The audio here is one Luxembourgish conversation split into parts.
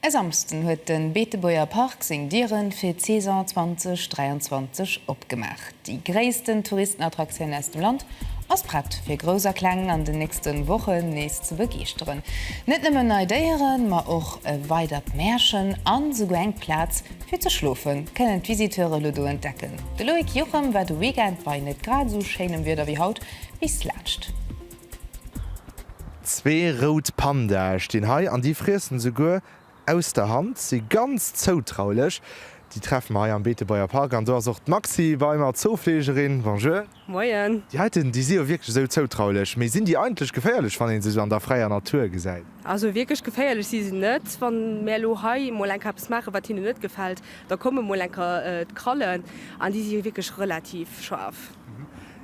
E Samsden huet de Beetebuerger Park seng Dieren fir d'Saison 2023 opgemaach. Déi gréissten Touristenattraktioun aus dem Land ass prett fir Grouss a Kleng an den nächste Wochen nees ze begeeschteren. Net nëmmen nei Déieren, ma och e weidert Märchen an esouguer eng Plaz fir ze schlofen, kënnen d'Visiteure elo do entdecken. De Loïc Juchem war de Weekend, bei net grad esou schéinem Wieder wéi haut, bis laanscht. Zwee rout Pandae stinn hei an déi friessen esouguer aus der Hand, si ganz zoutraulech. Déi treffe mer hei am Beetebuerger Park an do ass och d'Maxi bei mer, d'Zoofleegerin. Bonjour. Moien. Déi heiten, déi si jo wierklech esou zoutraulech, mee sinn déi eigentlech geféierlech, wann ee se esou an der fräier Natur gesäit? Also wierklech geféierlech si se net. Wann mär elo hei emol enker eppes maachen, wat hinnen net gefält, da komme mol enker d'Krallen an déi si wierklech relativ schaarf.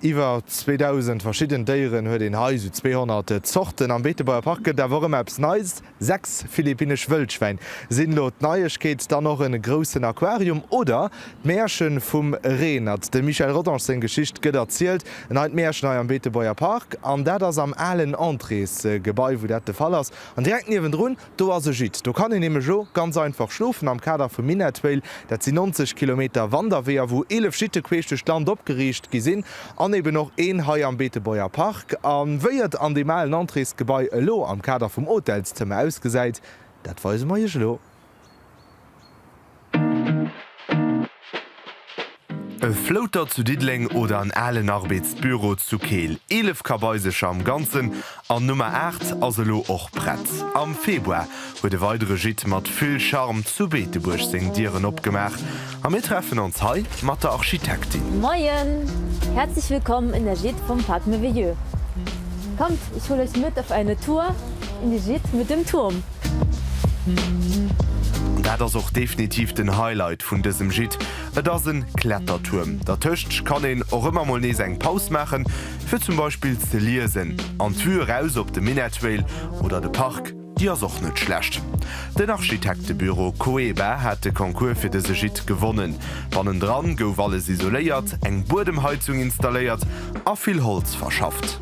Iwwer 2.000 verschidden Déieren huet een hei, sou 200 Zorten. Am Beetebuerger Park gëtt et awer och ëmmer eppes Neies, sechs philippinnesch Wëllschwäin sinn elo d'Neiegkeet, dann och e groussen Aquarium oder d'Mäerche vum Reenert. Dem Michel Rodange seng Geschicht gëtt erzielt, en Hei d'Mäerchen hei am Beetebuerger Park, an dat ass am alen Entréesgebai, wou dat de Fall ass, an direkt niewendrun, Do ass e Gîte. Do kann een nämlech o ganz einfach schlofen am Kader vum Minett Whale. Dat si 90 Kilometer Wanderweeër, wou 11 Gîte queesch duerch d'Land opgeriicht gi sinn an eben och een hei am Beetebuerger Park. A wéi et an deem alen Entréesgebai elo am Kader vum Hotelszëmmer ausgesäit, dat weise mer Iech elo. E Flouter zu Diddeleng oder en alen Arbeetsbüro zu Keel. 11 Kabaisercher am Ganzen an Nummer 8 ass elo och prett. Am Februar huet e weidere Gîte mat vill Charme zu Beetebuerg seng Dieren opgemaach a mir treffen ons hei mat der Architektin. Moien! Herzlich willkommen in der Gîte vom Parc Merveilleux. Kommt, ich hol euch mit auf eine Tour in die Gîte mit dem Turm. Dat ass och definitiv den Highlight vun dësem Gîte, et ass en Klettertuerm. Dertëscht kann een och ëmmer mol nees eng Paus maachen, fir zum Beispill ze liesen. An d'Vue eraus op de Minett Vale oder de Park, déi ass och net schlecht. Den Architektebüro Coeba hat de Concours fir dëse Gîte gewonnen. Bannendran gouf alles isoléiert, eng Buedemheizung installéiert a vill Holz verschafft.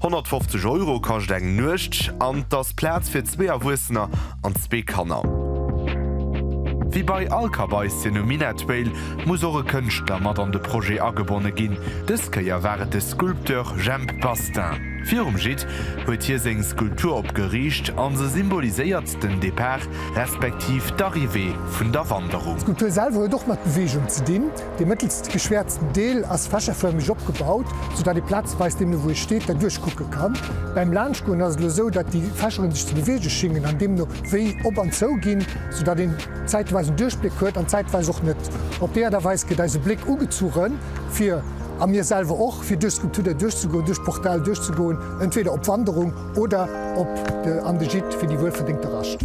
150 Euro kascht eng Nuecht an et ass Plaz fir zwee Erwuessener an zwee Kanner. Wéi bei all Kabaissien um Minettville muss och e Kënschtler mat an de Projet agebonne ginn. Dës Kéier war et de Sculpteur Jhemp Bastin. Virum Gîte huet hie seng Skulptur opgeriicht an se symboliséiert den Depart respektiv d'Arrivée vun der Wanderung. D'Skulptur selwer huet och mat Beweegung ze dinn. Dee mëttelst geschwäerzten Deel ass fächerförmeg opgebaut, sou datt ee plazeweis deemno wou ee steet derduerch kucke kann. Bäim Laanschtgoen ass et elo sou, datt déi Fächeren sech ze beweege schingen an deemno wéi op an zou ginn, sou datt een zäitweis en Duerchbléck huet an zäitweis och net. Op déi Aart a Weis gëtt eise Bléck ugezuche fir, a mir selwer och, fir duerch d'Skulptur derduerch ze goen, duerch d'Portal duerch ze goen, entweder op Wanderung, Oder op de an de Gîte fir déi wuel verdéngte Rascht.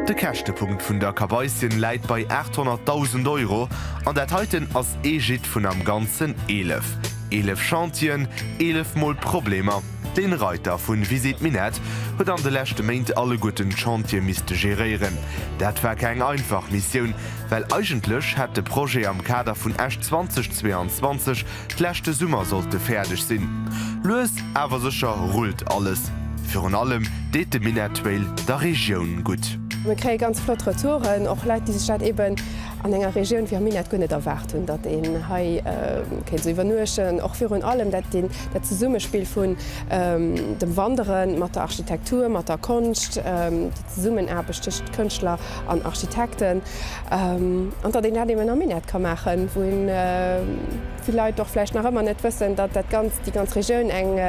De Käschtepunkt vun der Kabaissien läit bei 800.000 Euro an dat heiten ass ee Gîte vun am ganzen 11. Eelef Chantieren, eelef mol Problemer. Den Reiter vun Visite Minett huet an de leschte Méint alleguerten d'Chantier misste geréieren. Dat war keng einfach Missioun, well eigentlech hätt de Projet am Kader vun Esch 2022 Leschte Summer sollt e fäerdeg sinn. Lues awer sécher rullt alles. Virun allem deet de Minettrail der Regioun gutt. Mir kréie ganz flott Retouren, och Leit, déi sech dat eben an enger Regioun wéi am Minett guer net erwaart hunn, datt een hei kéint esou iwwernuechten. Och virun allem dat Zesummespill vun dem Wanderen mat der Architektur, mat der Konscht, déi Zesummenaarbecht tëschent Kënschtler an Architekten. An datt een dat eben am Minett ka maachen, wou vill Leit och vläicht nach ëmmer net wëssen, datt dat Ganzt, déi ganz Regioun eng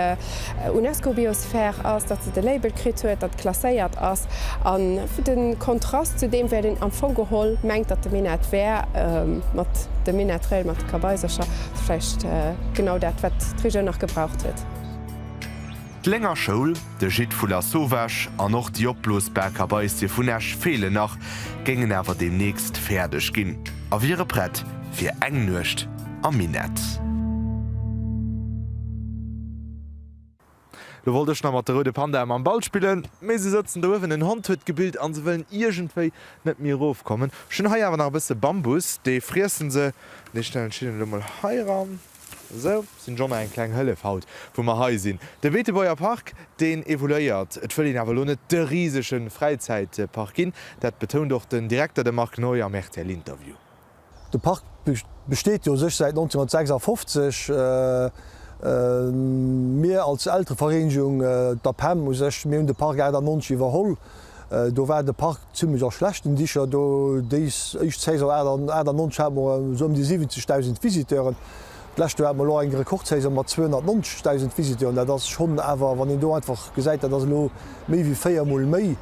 UNESCO-Biosphär ass, datt se de Label kritt huet, datt klasséiert ass. A de Kontrast zu deem wäert een am Fong geholl mengt, datt de Minett wär, mat dem Minettrail, mat de Kabaisercher, vläicht genau dat, wat d'Regioun nach gebraucht huet. D'Lénger Schoul, de Gîte vu Lasauvage an och déi opblosbar Kabaissie vun Esch feelen nach, géingen awer deemnächst fäerdeg ginn a wiere prett fir eng Nuecht am Minett. Lo wollt ech nach mat de roude Pandae mam Ball spillen, mee se sëtzen do uewen. En Hond huet gebillt a se wëllen iergendwéi net méi erofkommen. Ech hunn hei awer nach e bësse Bambus, dee friessen se. Dee stellen ech hinnen elo mol heiran. Sou sinn Jonner eng kleng Hëllef haut wou mer hei sinn. De Beetebuerger Park deen evoluéiert. Et wëll een awer elo net de risege Fräizäitpark ginn. Dat betount och den Direkter, de Marc Neu am rtl Interview. De Park besteet jo u sech säit 1956. Mir als Elterevereenegung, d'APEM u sech, mir hunn de Park 98 iwwerholl. Do war de Park zimmlech a schlechten Dicher. Déis éischt Saison 98 hate mer esou ëm déi 70.000 Visiteuren. D'lescht Joer hate mer elo eng Rekordsaison mat 290.000 Visiteuren. Dat ass schonn awer, wann een do einfach gesäit, dat ass elo méi wéi véiermol méi.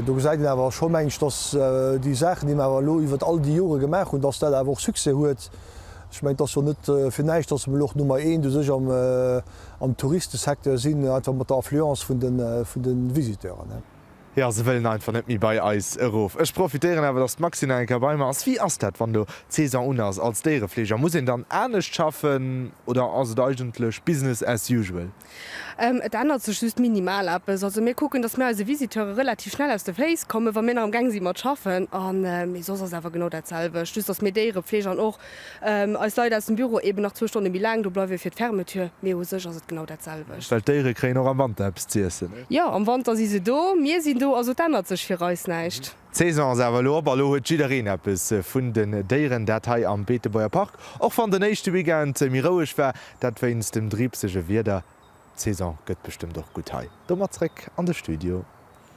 Do gesäit een awer scho, meng ech, datt déi Saachen, déi mer awer elo iwwert all déi Jore gemaach hunn, datt dat awer och Succès huet. Ech mengen, et ass jo net fir näischt, datt mer elo och Nummer eent u sech am. Am Touristesecteur sinn ech einfach mat der Affluence vun de, vun de Visiteuren. Jo, se wëllen einfach net méi bei eis erof. Ech profitéieren awer, dass d'Maxine nach eng Kéier bei mer ass. Wéi ass dat, wann elo d'Saison un ass als Déierefleeger? Muss een dann anescht schaffen oder ass et eigentlech business as usual? Et ännert sech just minimal eppes. Also mir kucken, dass mir eise Visiteure relativ schnell aus de Féiss kommen, wa mir nach amgaang si mat schaffen. A mee soss ass awer genau dat selwecht, just dass mir Déierefleeg an och Eis Leit aus dem Büro eben nach zwou Stonne méi laang do bleiwe fir d'Fermeture, mee u sech ass et genau dat selwecht. Well d'Déiere kréien och am Wanter eppes z'iessen. Jo, am Wanter si se do, mir sinn do, also et ännert sech fir eis näischt. D'Saison ass awer elo op a lo huet jiddereen eppes vun den Déieren, dat hei am Beetebuerger Park, och wann den éischte Weekend méi roueg war, dat wéinst dem driibsege Wieder. D'Saison gëtt bestëmmt och gutt hei. Domat zréck an de Studio.